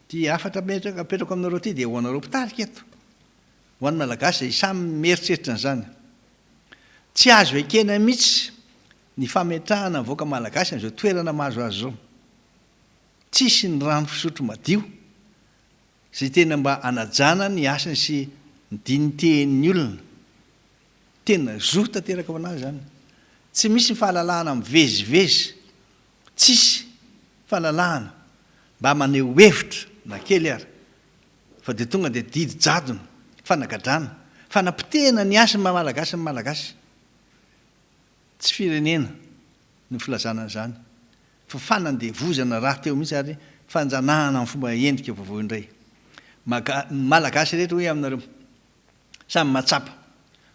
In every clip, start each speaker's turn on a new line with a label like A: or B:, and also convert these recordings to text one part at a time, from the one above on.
A: Ity hafatra apetrako apetrako aminareo ity dia ho anareo mpitarika eto, ho an'ny Malagasy izay samy mieritreritra an'izany. Tsy azo ekena mihitsy ny fametrahana ny vahoaka Malagasy amin'izao toerana mahazo azy izao. Tsisy ny rano fisotro madio izay tena mba anajana ny hasiny sy ny digniteeny olona. Tena zo tanteraka ho an'azy izany. Tsy misy ny fahalalahana mivezivezy Tsisy fahalalahana mba maneho hevitra na kely ary fa dia tonga dia didy jadona, fanagadrana, fanapotehana ny hasin'ny maha Malagasy ny Malagasy. Tsy firenena no filazana an'izany fa fanandevozana raha teo mihitsy ary fanjanahana amin'ny fomba endrika vaovao indray. Maga, ny Malagasy rehetra hoy aminareo, samy mahatsapa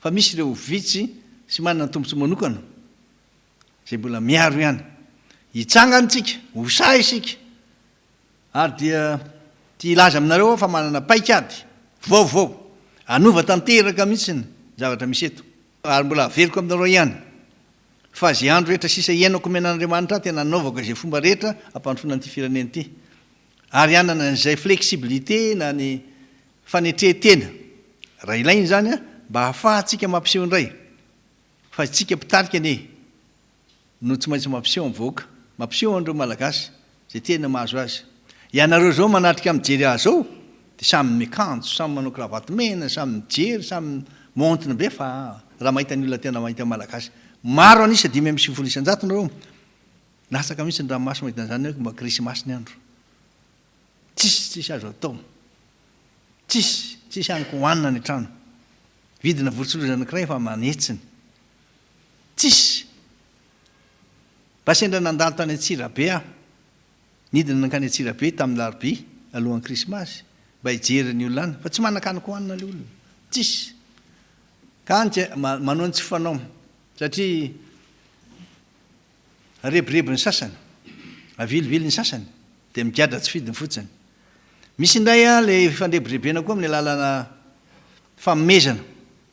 A: fa misy ireo vitsy sy manana tombotsoa manokana izay mbola miaro ihany. Hitsangana isika, ho sahy isika. Ary dia tia hilaza aminareo aho fa manana paikady vaovao, hanova tanteraka mihitsy ny zavatra misy eto. Ary mbola haveriko aminareo ihany, fa izay andro rehetra sisa hiainako omen'Andriamanitra ahy, tena hanaovako izay fomba rehetra hampandrosoana an'ity firenena ity. Ary hanana an'izay flexibilité na ny fanetrentena, raha ilaina izany, mba hahafahantsika mampiseho indray. Fa istsika mpitarika anie no tsy maintsy mampiseho am vahoaka, mampiseho anreo malagasy zay tena mahazo azy. Ianareo zao manatrika mijery azy zao de samy miakanjo, samy manao cravate mena, samy mijery, samy montre be fa raha mahita ny olona tena mahita malagasy maro anisa dimy amby sivifolo isanjato nareo, latsaka mihitsy ny ranomaso mahita anzany hoe mba krisimasy ny andro. Tsisy, tsisy azo atao. Tsisy, tsisy hany ko hohanina any an-trano. Vidina vorontsiloza anankiray fa manetsiny. Tsisy. Mba sendra nandalo tany Antsirabe aho. Nidina nankany Antsirabe tamin'ny larobia, alohan'ny krismasy, mba hijery ny olona any, fa tsy manan-kany ko hohanina ilay olona. Tsisy. Ka any dia manao ny tsy fanao, satria. Arebireby ny sasany, avilivily ny sasany, dia migadra tsy fidiny fotsiny. Misy indray ilay fandrebirebena koa amin'ny alalana fanomezana